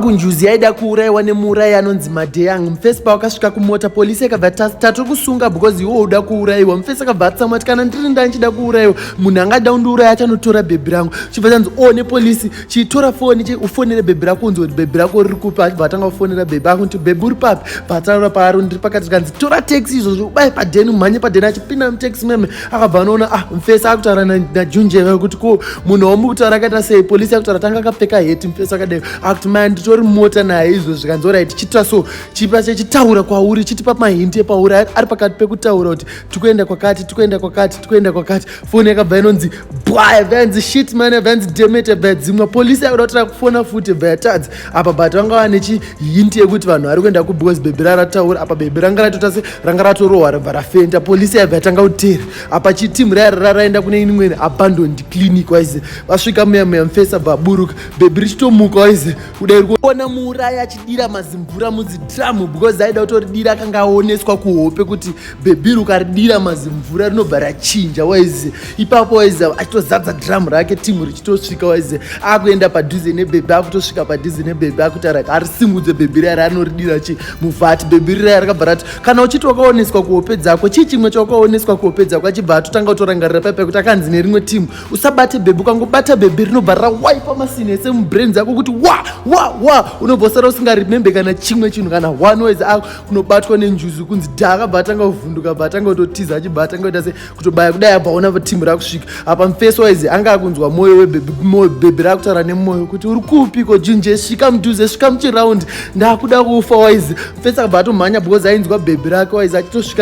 kunjuzi yaida kuurayiwa nemuurayi anonzi madeyang mufesi pawakasvika kumota polisi yakabva tatiri kusunga because iwo uda kuurayiwa mufesi akabva atsamwa ti kana ndiri nda ndichida kuurayiwa munhu angada kundiuraya achanotora bhebhi rangu chibva chanzi o oh, nepolisi chitora foni ufonere bhebhi rako unzi kuti bhebhi rako riri kupi achibva atanga kufonera bhebhi ako kuti bhebhi uri papi pataura paari ndiri pakati kanzi tora taxi izvozvo ubaye padeni umhanye padeni achipinda mutaxi meme akabva anoona ah mfesi akutaura najunje kuti ko munhu wamu kutaura akaita sei polisi akutaura tanga akapfeka heti mfesi akadai akuti maya nditori mota naye izvo zvikanzi orai tichiita so chipa chechitaura kwauri chitipa mahinti epauri ari pakati pekutaura kuti tikuenda kwakati tikuenda kwakati tikuenda kwakati foni yakabva inonzi bwaya vyanzi shit mane vyanzi demete vya dzimwa polisi akuda kuti akufona futi vya yatadzi apa but vanga vane chihinti yekuti vanhu vari kuenda kubecause bhebhi rarataura apa bhebhi ranga ratota se ranga ratorohwa rabva rafenda polisi yaibva yatanga kutera apa chitimu rayarara raenda kune inimwene abandoned clinic waize vasvika muya muya mufesi abva aburuka bhebhi richitomuka waize kudai rikuona muurayi achidira mazimvura mudzidiramu because aida kutoridira akanga aoneswa kuhope kuti bhebhi ukaridira mazimvura rinobva rachinja waize ipapo waize achitozadza dhiramu rake timu richitosvika waize akuenda padhuze nebhebhi akutosvika padhuze nebhebhi akutara arisimudze bhebhi riya raanoridira chi muvati bhebhi riya rakabva rati kana uchiti wakaoneswa kuhope dzako chii chimwe chawakaoneswa kuhope dzako achibva atotanga kutorangarira paipa kuti akanzi nerimwe timu usabate bhebhi ukangobata bhebhi rinobva rawaipa masini ese mubrains ako kuti wa wa wa unobva usara usingaremembe kana chimwe chinhu kana one waize ako kunobatwa nenjuzu kunzi dha akabva atanga kuvhunduka bva atanga kutotiza achibva atanga kuita se kutobaya kudai abva aona timu rakusvika apa mfeso waizi anga akunzwa mwoyo webebimoyo bhebhi rakutaura nemwoyo kuti uri kupi ko jinje svika mudhuze svika muchiraundi ndakuda kufa waizi mfeso akabva atomhanya because ainzwa bhebhi rake waizi achitosvika